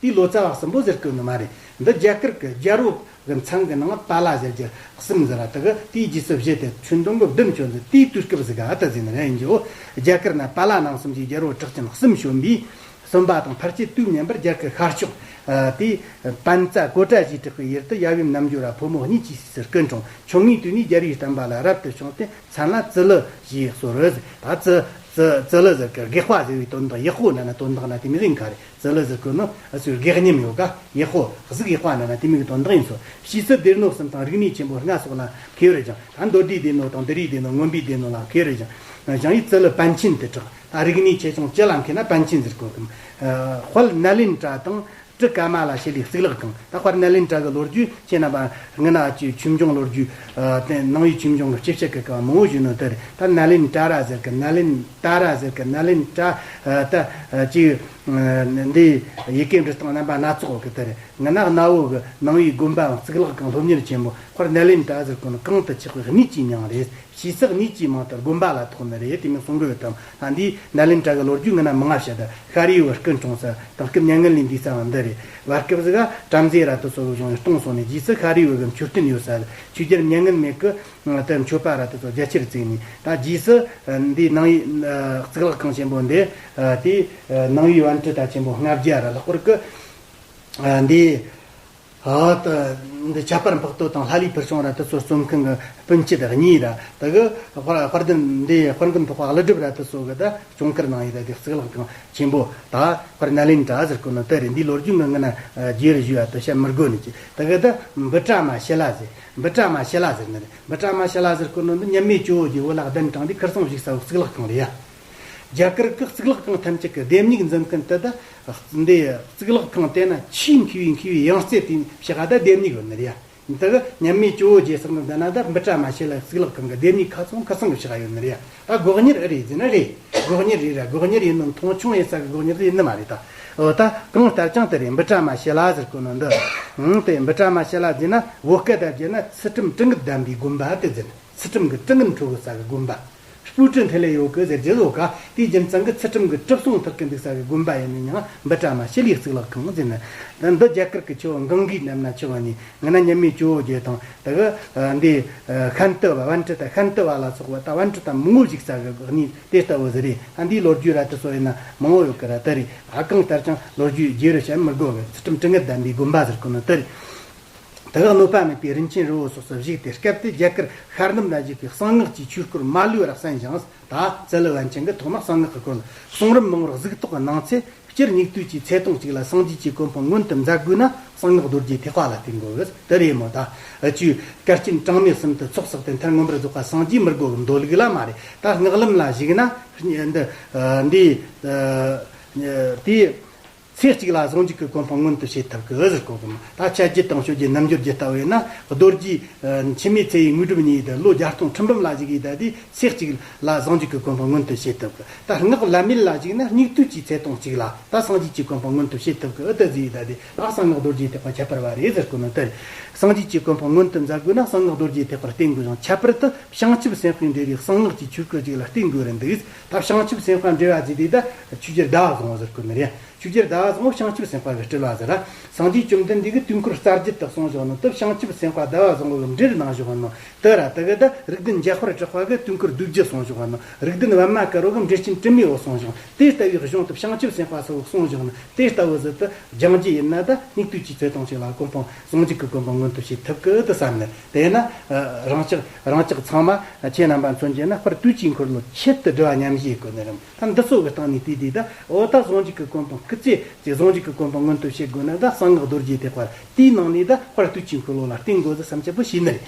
A: དེའི་ལོ་ཙཱ་བ་གསུམ་པོ་ཟེར་དགོས་ནི་མ་རེད། འདི་རྒྱ་གར་གྱི་རྒྱལ་པོ་གི་མཚང་གི་ནང་པཱ་ལ་ཟེར་རྒྱུར་སིམ་ཟེར་བ་དག་གི་དེའི་རྗེས་སུ་བཞེས་ཏེ་ཆུ་མདོ་མགོ་ལྡེམ་ཆོས་འདི་དེའི་དུས་སྐབས་སུ་ག་དུ་ཟིན་ནི་རེད་ཡིན་རྒྱུའོ། རྒྱ་གར་ན་པཱ་ལ་ནང་གསུམ་གྱི་རྒྱལ་པོ་གྲགས་ཅན་སིམ་གཞོན་པའི་གསུམ་པ་དང་ཕར་ཆེས་དུས་མཉམ་པར་རྒྱ་གར་ཤར་ཕྱོགས་དེའི་བན་རྩ་གོ་ཏྲ་ཞེས་གྲགས་པའི་ཡུལ་དུ་ཡབ་ཡུམ་རྣམ་འགྱུར་བ་ཕོ་མོ་གཉིས་ཀྱི་སྲས་སུ་སྐུ་འཁྲུངས་ཆུང་ངུའི་དུས་ནས་རྒྱལ་པོའི་གཏམ་པཱ་ལ་རབ་ཏུ་བྱུང་སྟེ་མཚན་ལ་ཙི་ལི་ཞེས་གསོལ། ད་ཙི། ཙི། ཙི་ལི་ཟེར་གི་དགེ་བཤེས་ཟེར་བའི་དོན་དང་ཡག་ཤོས་ན་ན་དོན་དག་ན་དེ་མི་ཟིན་ག་རེ། ཙི་ལི་ཙི་ཀུན་ནོ་ཨ་ཚོས་དགེ་བསྙེམས་ཡོད་ག་ཡེ་ཧོ་གཟུགས་ཡེ་དཔག་ན་ན་དེ་མིག་དོན་དག་ཡིན་སོ་ཤི་ཚུལ་དེར་ནོ་སེམས་དང་རིག་གནས་ཆེན་པོ་ལྔ་སོགས་ལ་ཁེལ་ཡོད་རེད་ཀྱང་ད་མདོ་སྡེའི་སྡེ་ནོ་དང་འདི་རིགས་སྡེ་ནོ་དངོས་པོའི་སྡེ་ནོ་ལ་ཁེལ་ཡོད་རེད་ཀྱང་ཞང་ཡིག་ཙི་ལི་པཎ་ཆེན་དེ་དྲག་ད་རིག་གནས་ཆེ་ཆུང་སྤྱི་ལ་མཁས་ན་པཎ་ཆེན་ཟེར་དགོས་གམ། དཔལ་ནཱ་ལེནྡྲ་དང་ཀྲི་ཀ་མ་ལ་ཤཱི་ལའི་གཙུག་ལག་ཁང་ད་དཔལ་ནཱ་ལེནྡྲ་གི་ལོ་རྒྱུས་ཁྱེད་རྣམས་པ་ངི་ན་ཅོའི་ཆོས་འབྱུང་ལོ་རྒྱུས་སྟེང་ནང་ཡུལ་ཆོས་འབྱུང་གི་སྤྱི་བཤད་ཀི་ཀ་བ་མང་བོ་བཞུགས་ནོ་དེར་ད་ནཱ་ལེནྡྲ་ར་ཟེར་གི་ནཱ་ལེནྡྲ། ཏཱ་ར་ཟེར་གི་ནཱ་ལེནྜ་ཏྲ་ཏ། ཅིག། འདི། ཡི་གེ་འབྲི་སྟངས་རྣམ་པ་སྣ་ཚོགས་ཀྱི་དེར། ངི་ནག་གནའ་བོའི་གི་ནང་བའི་དགོན་པའང་གཙུག་ལག་ཁང་སློབ་གཉེར་ཆེན་མོ་ཁར་ནཱ་ལེནྜ་ཏྲ་ཟེར་དགོན་གང་དུ་ཆགས་པའི་རྨིད་ཅིག་མྱང་རེད། ཞེས་ཚགས་རྨིད་ཅིག་མང་ལྟར་དགོན་པ་ལ་ཐོག་མེད་རེད་དེ་མིན་གསུང་དགོས་དམ་ལྷ་འདིས་ནཱ་ལེནྜ་ཏྲ་གི་ལོ་རྒྱུས་ངི་ནག་མི་ང་ཤ་ད་ཤར་ཡུལ་བར་སྐུ་འཁྲུངས་ས་དང་སྐུ་མྱ་ངན་ལས་འདས་སའང་འདི་རེད། བར་སྐབས་སུ་ག་བྲམ་ཟེ་ར་ཏུ་སོགས་བྱུང་ཡང་སྟོང་སོང་ནས་རྗེས་སུ་ཤར་ཡུལ་བར་གི་མཆོད་རྟེན་ཡོད་ས་ལ་ཆོས་རྒྱལ་མྱ་ངན་མེད་སྐུ་ཏེ་མཆོད་པ་ར་དེ་ཚོ་རྒྱལ་སྤྱིར་བརྩིགས་ནས་ད་རྗེས་སུ། འདིའི་ནང་ཡི། གཙུག་ལག་ཁང་ཆེན་པོ་འདི། དེའི། ནང་ཡི་དབལ་ཁྲི་དང་ཆེན་པོ་ལྔ་བརྒྱ་ར་ལྷག་པར་བརྐུ། འདིའི། འདི་ཁྱད་པར་འཕགས་བསྟོད་དང་ལྷ་ལུས་ཕུར་ཆུང་ར་དེ་ཚོ་རྩོམ་མཁན་གྱི་སྤུན་མཆེད་གཉིས་ར་དེ་གི། དཔར་རྡུལ་འདིའི་དཔར་མགོན་ཐོག་པ་ཀླུ་སྒྲུབ་ར་དེ་ཚོ་གི་ད་གཅོང་དཀར་ནང་ཡི་ད་དེའི་གཙུག་ལག་ཁང་ཆེན་པོ། ད་དཔར་ནཱ་ལེནྡྲ་ཟེར་བརྐུ་ནོ་དཔེ་རེད་འདིའི་ལོ་རྒྱུས་འདི་ངེད་ན་རྒྱུད་རེ་བཞུགས་ཡ་ད་བཤད་མི་དགོས་ནི་ཅི་ད་གི་ད་འབུ་བཀྲ་མ་ཤེ་ལ་ཟེར་འབུ་ཀྲ་མ་ཤེ་ལ་ཟེར་ནི་རེད་འབུ་ཀྲ་མ་ཤེ་ལ་ཟེར་སྐོར་ནོར་འདི་མཉམ་མེད་ཅོ་ཀྱི་བོད་ལ་གདན་དྲངས་པའི་ཁིར་ཚང་བཞུགས་ས་འོག་གཙུག་ལག་ཁང་རེད་ཡ། རྒྱ་གར་གི་གཙུག་ལག་ཁང་ཐམས་ཅད་ཀྱི་ལྡེབས་ཉིག་འཛིན་མཁན་དེ་དག་འདི་གཙུག་ལག་ཁང་བལྟས་ན་ཆེས་མཁས་པའི་མཁས་པའི་ཡང་རྩེ་དེ་ཕྱི་ཧ་ད་ལྡེབས་ཉིག་ཡོད་ནི་རེད་ཡ། འདི་གི་མཉམ་མེད་ཅོ་ཀྱི་ཟེར་ནི་འདི་ན་ད་འབུ་ཀྲ་མ་ཤེ་ལ་གཙུག་ལག་ཁང་གི་ལྡེབས་ཉིག་ཁ་ཚོང་ཁིར་ཚང་གི་ཕྱི་ཧ་ཡོད་ནི་རེད་ཡ། ད་སྒོག་གཉེར་ཨེ་རེད་ཟེར་ན་རེད། སྒོག་གཉེར་རེད་ར་སྒོག་གཉེར་ཡིན་ནམ་མཐོང་ཆུང་ཡིན་ས་གི་སྒོག་གཉེར་དེ་ཡིན་ནི་མ་རེད་ད། འོ་ད་གང་ལྟར་ཀྱང་དེ་རེད་འབུ་ཕྲ་མ་ཞེ་ལ་ཟེར་དགོས་ནོ་འདི། འང་དེ་འབུ་ཕྲ་མ་ཞེ་ལ་འཛིན་ན་བོད་སྐད་དང་བརྗེས་ན་ཚུལ་ཁྲིམས་སྤྲིན་གྱི་བསྡམས་པའི་དགོན་པ་དེ་འཛིན་ཚུལ་ཁྲིམས་ཀྱི་སྤྲིན་གྱི་འཕྲོ་གི་ས་གི་དགོན་པ། སྤུའི་སྤྲིན་དེ་ལས་ཡོད་གི་ཟེར་རྗེས་བཟོ་ག་དེའི་རྒྱུན་གཙང་གི་ཚུལ་ཁྲིམས་ཀྱི་གྲིབ་སོང་ཐག་གི་འདུག་ས་གི་དགོན་པ་ཡིན་ནི་ཡང་འབུ་ཕྲ་མ་ཞེ་ལའི་གཙུག་ལག་ཁང་འཛིན་ནི། འདི་རྒྱ་གར་གྱི་ཆོས་འགང་གིས་བསྣེབས་ན་ཆོས་ཉིད་ངན་ན་ཉི་མའི་ཇོ་བོ་རྗེ་དང་དག། འདིས་ཤཱན་ཏི་བ་བན་ཏི་དང་ཤཱན་ཏི་བ་ལ་སོགས་པ་དང་བན་ཏི་དང་མི་ངོ་ཞིག་ཟ་བའི་གནས་དེ་ལྟ་བུ་ཟི་རི་ཨ་འདིའི་ལོ་རྒྱུས་ར་ཏི་སོ་ཡིན་ན་མང་བོ་ཡོད་ཀི་ར་ཏི་རི་ཨ་གང་ལྟར་ཀྱང་ལོ་རྒྱུས་རྗེ་རུ་བྱ་མི་དགོས་བས་ཚུལ་ཁྲིམས་དྲི་ངད་ལྡན་པའི་དགོན་པ་ཟེར་གི་ནི་ཏི་རི་དག་གནོད་པ་མེད་པའི་རིན་ཆེན་རི་བོ་སོགས་སུ་བཞུགས་ཏེ་སྐབས་དེའི་རྒྱ་གར་ཤར་ནུབ་ན་བཞུགས་པའི་གསང་སྔགས་ཀྱི་ཆོས་སྐོར་མ་ལུས་རགས་ཟིན་ཞིང་ད་གསལ་བན་ཆེན་གྱི་ཐོག་མ་གསང་སྔགས་ཀྱི་སྐོར་ལ་གསུང་རབ་མང་བར་གཟིགས་རྟོག་གི་གནང་ཚེ་སྤྱིར་སྙིགས་དུས་ཀྱི་ཚེ་ཐུང་གཅིག་ལ་སངས་རྒྱས་ཀྱི་གོ་འཕང་མངོན་དུ་མཛད་དགོས་ན་གསང་སྔགས་རྡོ་རྗེའི་ཐེག་པ་ལ་ཐེག་འགོ་བོད་དུ་རེད་མོད། ད་ཅིའུ་སྐལ་ལྕིན་གྲངས་མེད་གསུམ་དུ་ཚོགས་བསགས་ཏེ་མཐར་མངོན་པར་རྫོགས་པ་སངས་རྒྱས་མི་དགོས་འདོད་ལུགས་ལ་མ་རེད་ད་སྔགས་ལམ་ལ་གཞིགས་ན། འདི། དེ། ཚེ་གཅིག་ལ་ཟུང་འཇུག་གི་གོ་འཕང་མངོན་དུ་བྱེད་ཐབས་ཀྱི་ཟུར་བཀོད་དགོས། ད་ཆ་རྒྱུད་དང་ཆོས་ཀྱི་རྣམ་འགྱུར་རྒྱུད་ལྟ་བས་ན་རྡོ་རྗེ། འཆི་མེད་ཚེ་ཡི་དངོས་གྲུབ་གཉིས་ལྡན་ལོ་བརྒྱ་སྟོང་ཁྲི་འབུམ་ལ་གཞིགས་ཡུལ་དག་དུས་ཚེ་གཅིག་ལ་ཟུང་འཇུག་གི་གོ་འཕང་མངོན་དུ་བྱེད་ཐུབ། ད་སྔགས་བླ་མེད་ལ་གཞིགས་ན་སྙིགས་དུས་ཀྱི་ཚེ་སྟོང་གཅིག་ལ་ད་སངས་རྒྱས་ཀྱི་གོ་འཕང་མངོན་དུ་བྱེད་ཐུབ་ཀྱི་ཨུ་ཏི་ཛི་ཡུལ་དག་དུས་ལ་གསང་སྔགས་རྡོ་རྗེའི་ཐེག་པ་ཁྱད་པར་བ་རེད་ཟེར་དགོས་མི་འདུག་སངས་རྒྱས་ཀྱི་གོ་འཕང་མངོན་དུ་མཛད་དགོས་ན་གསང་སྔགས་རྡོ་རྗེའི་ཐེག་པར་བརྟེན་དགོས་ཤིང་ཁྱད་པར་དུ་བྱང་ཆུབ་སེམས་དཔའི་འབྲས་བུའི་གསང་སྔགས་ཀྱི་ཆོས་སྐུ་གཅིག་ལ་བརྟེན་དགོས་རན་འདུག། ད་བྱང་ཆུབ་སེམས་དཔའ་འདྲི་བ་ཛི་དེ་ད་ཆུ་སྐྱེར་ཟླ་བ་བཟང་བོ་ཟེར་གོ་མེད་རེད་ཆུ་སྐྱེར་ཟླ་བ་བཟང་བོ་བྱང་ཆུབ་སེམས་དཔའ་བས་དཀྲི་ལགས་ཟེར་ཨ། སངས་རྒྱས་བཅོམ་ལྡན་འདས་ཀྱི་དུས་འཁོར་གསར་བརྗེ་དག་གསུངས་བཞག་ནོ་སྟབས་བྱང་ཆུབ་སེམས་དཔའ་ཟླ་བ་བཟང་བོ་གི་འདྲིར་གནང་བཞག་ནོ་སྟབས་ར་ད་གི་ད་རིགས་ལྡན་འཇའ་ཧོར་གྲགས་པ་གི་དུས་འཁོར་བདུད་བརྒྱུད་གསུངས་བཞག་ནོ་རིགས་ལྡན་བར་མ་དཀར་བོ་གི་འདྲིར་སྤྱན་སྤྲིན་མེའོ་གསུངས་བཞག་དེ་ལྟ་བུའི་གཞུང་སྟབས་བྱང་ཆུབ་སེམས་དཔའ་ཚོ་གསུངས་བཞག་ནོ་དེ་ལྟ་བུ་ཟི་ད་སྦྱང་རྒྱུ་ཡིན་ན་ད་སྙིགས་དུས་ཀྱི་ཚེ་ཐུང་ཞིག་ལ་ཀུན་སྤངས་སངས་རྒྱས་ཀྱི་དགོན་པ་མངོན་དུ་བྱེད་ཐབས་ཀྱི་དུ་བསམ་ནས་དེས་ན། རང་ཅག་རང་ཅག་ཚང་མ་ཁྱེད་རྣམ་པ་མཚོན་བྱེད་ན་པར་དུས་ཀྱི་འཁོར་ལོ་ཆེད་དུ་སྦྲེལ་བ་མཉམ་བཞེས་དགོས་ནི་རམ། ད་འདི་ཚོ་གི་སྟེང་ནས་དུས་དེ་དག་འོ་ད་གཟུངས་གཅིག་གི་སྐུ་འཕང་སྐུ་ཚེ་ཅིག་གཟུངས་གཅིག་གི་སྐུ་འཕང་མངོན་དུ་བྱེད་དགོས་ན་ད་གསང་སྔགས་རྡོ་རྗེ་ཐེག་པ་དེའི་ནང་ནས་ད་པར་དུས་ཀྱི་འཁོར་ལོ་ལ་བརྟེན་དགོས་ཚུལ་བསམ་འཆར་པོ་བྱས་ནི་རེད།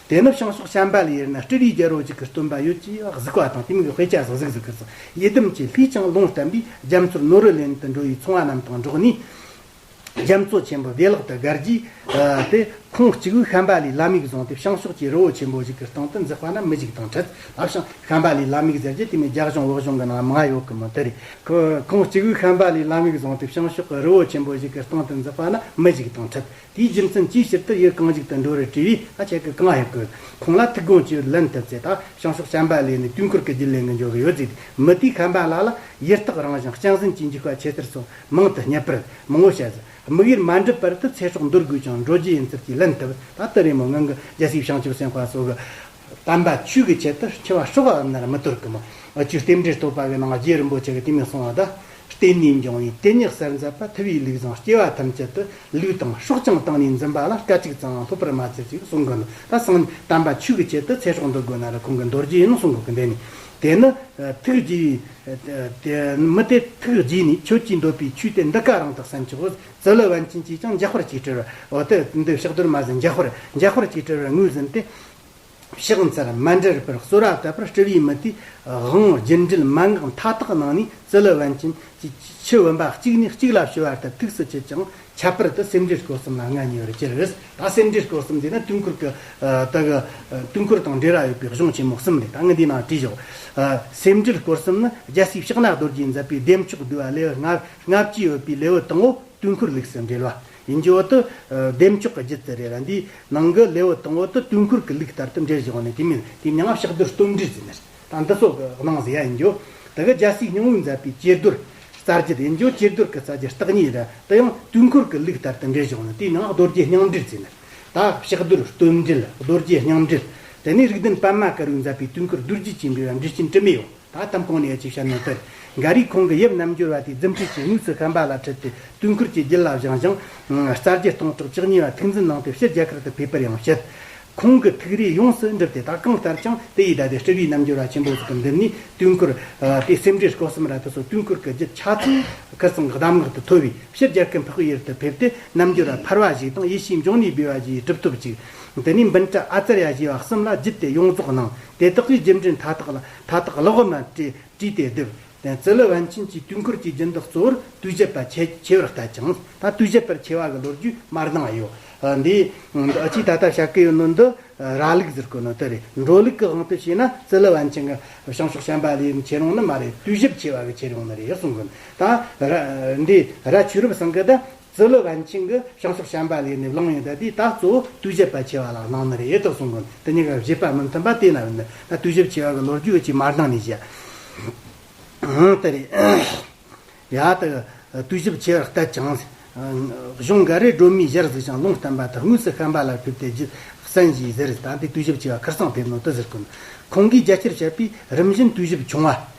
A: དེ་ནི་བྱང་ཕྱོགས་བྱམས་པ་ལས་ཡོད་ན་སྤྲུལ་རིགས་རྒྱལ་རོ་གཅིག་གི་སྟོན་པ་ཡོད་ཅེས་གཟིགས་པ་དང་དེ་མིག་དཔེ་ཆ་ཟིག་ཟིག་ཟིག་གིས་ཡིད་དམ་གྱི་ལྷས་བྱང་རླུང་བསྟན་པས་རྒྱ་མཚོར་ནོར་བུ་ལེན་དུ་འགྲོ་བའི་ཚོང་བ་རྣམས་དང་འགྲོགས་ནས། རྒྱ་མཚོ་ཆེན་པོ་བདེ་བླག་ཏུ་སྒར་གྱིས། དེ་ཁོངས་གཅིག་བུའི་ཤམྦྷ་ལའི་བླ་མིག་བཟུང་སྟེ་བྱང་ཕྱོགས་ཀྱི་རི་བོ་ཆེན་པོ་ཞིག་གི་སྟེང་དུ་འཛེགས་པ་ན་མི་ཞིག་དང་ཁྲིད་ལ་བྱང་ཤམྦྷ་ལའི་བླ་མིག་ཟེར་གྱི་དེ་མིན་རྒྱ་གཞུང་ལོག་གཞུང་གི་ནང་མ་ཡོད་གི་མོད་དེ་རེད། ཁོངས་གཅིག་བུའི་ཤམྦྷ་ལའི་བླ་མིག་བཟུང་སྟེ་བྱང་ཕྱོགས་ཀྱི་རི་བོ་ཆེན་པོ་ཞིག་གི་སྟེང་དུ་འཛེགས་པ་ན་མི་ཞིག་དང་ཁྲིད། དེའི་རྒྱུ་མཚན་ཅིའི་ཕྱིར་དེར་ཡུལ་གང་ཞིག་ཏུ་འགྲོ་རེ་དྲིས་པས་ད་ཁྱེད་ཀྱིས་གང་ཞིག་བཀོད། ཁོང་ལ་ཐུགས་དགོངས་ཅི་ལེན་ཐུབ་ཚེ་ད་བྱང་ཕྱོགས་ཤམྦྷ་ལའི་ནི་དུས་འཁོར་གྱི་རྒྱུད་ལས་འགུལ་འབྱུང་གི་ཡོད་ཟེར་ཏེ་མི་དེས་ཤམྦྷ་ལ་ལ་ཡི་རྟགས་རང་བཞིན་སྤྱན་ཟིན་གྱིས་འཇུག་པ་ཆེད་ཟེར་སོང། མང་དུ་བསྙད་པར་མང་བོ་བྱས། དམིགས་ཡུལ་མ་འགྲུབ་པར་དུ་ཚེ་སྲོག་འདོར་དགོས་ཀྱང་འགྲོ་རྒྱུ་ཡིན་ཟེར་གྱིས་ལན་བཏབ། ད་ལྟ་རི་མོ་ངང་གིས་རྒྱལ་སྲིད་བྱང་ཆུབ་སེམས་དཔའ་སོགས་ཀྱི། དམ་པ་ཆོས་ཀྱི་ཆེད་དུ་འཆི་བ་ཤོག་ཨ་ནར་མི་དོར་གི། མ་བཅོས་རྟེན་འབྲེལ་བསྟོད་པ་བས་ནང་རྗེ་རིན་པོ་ཆེ་གི་དེ་མི་གསུང་བ་དང། བརྟེན་ནས་འབྱུང་བའི་དེ་ཉིད་གསལ་མཛད་པ་ཐུབ་པའི་ལུགས་བཟང་སྐྱེ་བ་ཐམས་ཅད་དུ་ལུས་དང་སྲོག་ཀྱང་བཏང་ནས་འཛིན་པ་ལ་སྐད་ཅིག་ཙམ་ཡང་ལྷོད་པར་མ་བྱེད་ཅིག་གསུང་གི་འདུག་ད་སང་ཉིན་དམ་པ་ཆོས་ཀྱི་ཆེད་དུ་ཚེ་སྲོག་འདོར་དགོས་ན་ར་ཁོང་གིས་འདོར་རྒྱུ་ཡིན་གསུང་གི་འདི་ནི། དེ་ནི། ཐུགས་རྗེའི། མི་སྟེ་ཐུགས་རྗེས་ནི་ཁྱོད་ཀྱིས་འདོད་པའི་ཆོས་དེ་འདི་ག་རང་དུ་བསམ་གྱི་འོ་ཛི་ལི་བན་ཅིན་གྱིས་ཀྱང་འཇག་པར་གྱིས་དྲིལ་བར་འོ་དེ་འདི་ཕྱག་རྡོར་མ་ཟིན་འཇག་པར་འཇག་པར་གྱིས་དྲིལ་བར་ངོས་ཟིན་ཏེ། ཕྱག་མཚལ་མ་འདྲེར་པར་གསོལ་བ་བཏབ་པར་སྤྲུལ་པའི་མི་དེས་དབང་བརྒྱུད་འབྲེལ་མ་འགགས་མཐའ་དག་གནང་ནས་ཛི་ལི་བན་ཅིན་གྱིས་ཁྱི་བུམ་པ་གཅིག་ནས་གཅིག་ལ་བྱོལ་བ་ལྟར་ཐུགས་སུ་ཆུད་ཅིང་ཁྱད་པར་དུ་སེམས་འགྲེལ་སྐོར་གསུམ་ལ་མངའ་བརྙེས་པར་གྱུར། ད་སེམས་འགྲེལ་སྐོར་གསུམ་འདི་ནི་དུས་འཁོར་གྱི། དུས་འཁོར་དང་འབྲེལ་བ་ཡོད་པའི་གཞུང་ཆེན་མོ་གསུམ་ལས་ད་ངས་འདིའི་ནང་བྲིས་ཆོག། སེམས་འགྲེལ་སྐོར་གསུམ་ནི་རྒྱལ་སྲས་ཕྱག་ན་རྡོ་རྗེས་མཛད་པའི་ལྡེ་མཆོག་བསྡུས་པ་ལེའུ་ལྔ་ལྔ་བཅུ་ཡོད་པའི་ལེའུ་དང་བོ་དུས་འཁོར་ལུགས་སུ་འགྲེལ་བ་ཡིན། ཇོ་བོ་དུ་ལྡེ་མཆོག་གི་རྗེ་བཙུན་རེ་ར་འདིའི་ནང་གི་ལེའུ་དང་བོ་དུ་དུས་འཁོར་གྱི་ལུགས་ལྟར་དུ་འགྲེལ་བཞིན་པ་ནི་དེ་མིན་ཏེ་མྱང་བྱ་རྡོར་སྟོན་འགྲེལ་ཟེར། དང་འདི་སོགས་ཀྱི་སྣང་བཟའ་ཡིན་རྒྱུ། དེ་གའི་རྒྱལ་སྲས་སྙིང་བོའི་མཛད་པའི་གཅེར་བསྡུར། རྩ་རྒྱུད་ཡིན་རྒྱུ་གཅེར་བསྡུར་གྱི་རྩ་རྒྱུད་རྟགས་གཉིས་རེད། དེ་ཡང་དུས་འཁོར་གྱི་ལུགས་ལྟར་དུ་འགྲེལ་བྱུང་ནས་དེའི་ནང་རྡོ་རྗེ་སྙིང་འགྲེལ་བཙལ་ནས། དག་ཕྱག་བསྡུར་སྟོད་འགྲེལ་རྡོ་རྗེ་སྙིང་འགྲེལ། དེ་ནས་རིགས་ལྡན་པདྨ་ཀ་རུའི་མཛད་པའི་དུས་འཁོར་རྡོ་རྗེ་ཆེན་པོའི་བ་འབྲི་ཆེན་དྲི་མེད་ཡོངས་དག་གཏམ་གང་ནས་ཅིག་བྱ་ནོ་དེར། འགའ་རེས་ཁོང་གི་དབྱིབས་རྣམ་འགྱུར་བ་དེ་རྫུན་ཁྲིད་ཀྱིས་དངོས་སུ་བཤམས་པ་ལ་ཁྲིད་དེ་དུས་འཁོར་གྱི་རྒྱུད་ལ་བཞེངས་ཤིང། རྩ་རྒྱུད་སྟོང་ཕྲག་བཅུ་གཉིས་པ་ཐིག་འཛིན་གནང་སྟེ་ཕྱི་རྒྱལ་ཁག་ཏུ་ཕེབས་པར་ཡང་བཤད། ཁོང་གི་ཐུགས་རེ་ཡོངས་སུ་འགྲུབ་སྟེ་ད་གང་ལྟར་ཀྱང་དེ་ཡིས་བདག་གི་སྤྲུལ་པའི་རྣམ་འགྱུར་བ་ཆེན་པོ་ཞིག་གི་མདུན་ནས་དུས་འཁོར་དེ་སེམས་འགྲེལ་སྐོར་གསུམ་ར་ཐུག་སོགས་དུས་འཁོར་གྱི་རྒྱུད་ཆ་ཚང་ཁེར་གསུམ་གདམས་ངག་ཏུ་ཐོས་པས་ཕྱིར་རྒྱལ་ཁའི་འཕགས་པའི་ཡུལ་དུ་ཕེབས་ཏེ་རྣམ་འགྱུར་བ་འཕར་བ་ཞིག་དང་ཡེ་ཤེས་འབྱུང་གནས་སྦས་པ་ཞིག་ཡི་གྲུབ་ཐོབ་ཅིག། དེ་ནས་འབུམ་ཕྲག་ཨ་ཙར་ཡ་བཞི་བ་གསུམ་ལ་བརྒྱུད་དེ་ཡོངས་རྫོགས་གནང། དེ་དག་གིས་རྒྱུད་འགྲེལ་མཐའ་དག་ལ་མཐའ་དག་ཀློག་མ་དཀྲིས་ཏེ་བསྡུས། དེང་ཙི་ལི་ཝན་ཆིན་གྱིས་དུས་འཁོར་གྱི་སྦྱིན་བདག་གཙོ་བོར་དུས་བཞི་པ་ཆེས་ཆེ་བར་བལྟ་ཅིང་ད་དུས་བཞི་པར་ཆེ་བ་གི་ལོ་རྒྱུས་མར་སྣང་བ་ཡོད། འདི་ཕྱིས་ད་ལྟ་བྱ་གི་ཡོད་ནོར་འདི་ར་ལུག་གཟིར་གི་ནོར་དེ་རེད་འགྲོ་ལུག་གི་དབང་དུ་བྱས་ན་ཙི་ལི་ཝན་ཆིན་གི་བྱང་ཕྱོགས་ཤན་པ་ལའི་ཆེ་རུང་ནི་མ་རེད་དུས་བཞི་པ་ཆེ་བ་གི་ཆེ་རུང་ནི་རེད་གསུང་གི་འདུག་ད་ར་འདི་ར་ཆོས་རབ་གསང་གི་ད་ཟི་ལི་ཝན་ཆིང་གི་བྱང་ཕྱོགས་བྱམས་པ་ལས་ནས་བླངས་ཡོད་ད་དུས་ད་གཙོ་བོ་དུས་བཞི་པ་ཆེ་བ་ལ་གནང་ནི་རེད་ཨེ་ཐུག་སོང་གོ་འདི་གཉིས་ཀ་བཞི་པ་མི་མཐུན་པ་དེ་ན་ཡོད་ན་དུས་བཞི་ཆེ་བ་གི་ལོ་རྒྱུས་གཅིག་མར་དང་ནས་བཤད་ཨང་དེ་རེད་ཡ་ད་དུས་བཞི་ཆེ་བར་བལྟས་ཀྱང་གཞུང་འགའ་རེས་སྒྲོལ་མའི་གཞིར་གཟིགས་ཤིང་ལུང་བསྟན་པ་དག་དངོས་སུ་བཤན་པ་ལ་ཕེབས་ཏེ་རྒྱུ་བསན་ཞེས་ཟེར་ད་དུས་བཞི་ཆེ་བ་ཁར་སང་ཕེབས་ནོ་དུ་ཟེར་གོ་ཁོང་གིས་རྒྱལ་སྤྱིར་བཤད་པའི་རིམ་བཞིན་དུས་བཞི་བྱུང་བ་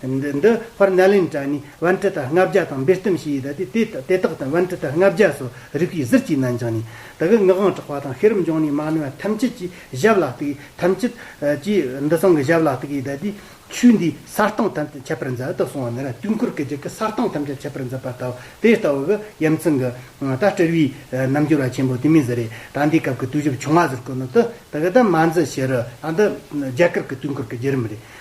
A: འདི་འདི་བྷར་ནཱ་ལིན་ཏྲ་ནི་བན་ཏྲི་ཏཱ་ལྔ་བརྒྱ་དང་འབེལ་གཏུམ་བྱས་ཡོད་ད་དེ་དེ་དག་དང་བན་ཏྲི་ཏཱ་ལྔ་བརྒྱ་སོགས་རིགས་པའི་གཟི་བརྗིད་ནང་བྱང་ནས་ད་གི་ངག་དབང་གྲགས་པ་དང་ཤེས་རབ་འབྱུང་གནས་མ་ནི་བ་ཐམས་ཅད་ཀྱིས་ཞབས་ལ་གཏུགས་ཡོད་ཐམས་ཅད་ཀྱིས་འདི་ཚང་གི་ཞབས་ལ་གཏུགས་ཡོད་ད་དེ་ཆོས་འདིའི་ས་སྟེང་ཐམས་ཅད་ཁྱད་པར་མཛད་དུ་སོང་བ་ནི་ར་དུས་འཁོར་གྱི་རྒྱུད་ཀྱི་ས་སྟེང་ཐམས་ཅད་ཁྱད་པར་མཛད་པ་ལྟ་བུ་དེ་ལྟ་བུ་གི་དབྱེ་མཚན་གྱི་ད་སྤྲུལ་བའི་རྣམ་འགྱུར་བ་ཆེན་པོ་དེ་མིན་ཟེར་རེད་ད་འདིའི་སྐབས་ཀྱི་དུས་བཞི་བྱུང་བ་ཟེར་དགོས་ནི་དེ་དག་ད་མ་མཛད་ཕྱིར་རོ་ད་འདི་རྒྱ་གར་གྱི་དུས་འཁོར་གྱི་རྒྱུད་རིམ་རེད་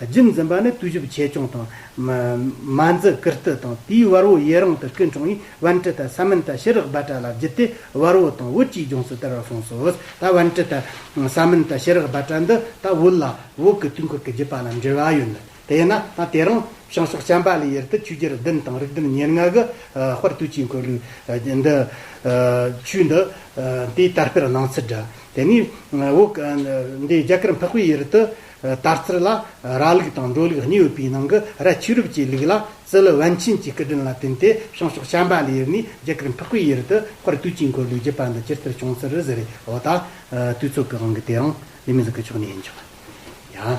A: རྒྱུན་འཛིན་པ་ནི་བརྟུལ་ཞུགས་ཆེ་ཆུང་དང། མ་འཛི་བཀུར་སྟི་དང་དེའི་བར་བོ་ཡི་རང་དུ་སྐུ་འཁྲུངས་ཡིན་བན་ཏྲི་ཏཱ་ས་མིན་ཏཱ་ཤི་རགས་སྦལ་ཏྲ་ལ་བརྒྱུད་དེ་བར་བོ་དང་བོད་ཀྱི་ལྗོངས་སུ་དར་བར་གསུངས་སོ། ད་བན་ཏྲི་ཏཱ་ས་མིན་ཏཱ་ཤི་རགས་སྦལ་ཏྲ་འདི་ད་བོད་ལ་བོད་ཀྱི་དུས་འཁོར་གྱི་བརྒྱུད་པ་ལ་འབྲེལ་བ་ཡོད་འདུག་དེས་ན་ད་དེ་རིང་བྱང་ཕྱོགས་བྱམས་པ་ལའི་ཡུལ་དུ་ཆོས་རྒྱལ་བདུན་དང་རིགས་བདུན་ཉེར་ལྔ་གི་དཔར་བཏུལ་ཆས་འཁོད་ལུགས་འདི་ཆོས་འདི་དེའི་དར་སྤེལ་གནང་ཚུལ་འདྲ། དེ་ནས་བོད་འདི་རྒྱ་གར་འཕགས་པའི་ཡུལ་དུ། ལྟར་རྩིར་ལ་ར་ལུགས་དང་འགྲོ་ལུགས་གཉིས་ཡོད་པའི་ནང་གི་ར་ཆེ་རུབ་ཀྱི་ལུགས་ལ་རྩི་ལུགས་བན་ཆེན་གྱི་སྐུ་དྲིན་ལ་བརྟེན་ཏེ་བྱང་ཕྱོགས་བྱམས་པ་ལ་ཡུར་ནས་རྒྱ་གར་འཕགས་པའི་ཡུལ་དུ་སྤར་དུས་དཀྱིལ་འཁོར་ལུགས་བརྒྱུད་པ་འདི་སྤྱིར་ཐུར་བྱུང་ཚུལ་རུ་ཟེར་བའི་འོག་ད་དུས་ཚོགས་ཀྱི་དབང་གིས་དེ་རང་ལས་མི་འཛིན་ཀྱི་ཕྱོགས་ནས་ཡིན་ཆོག་ཡང།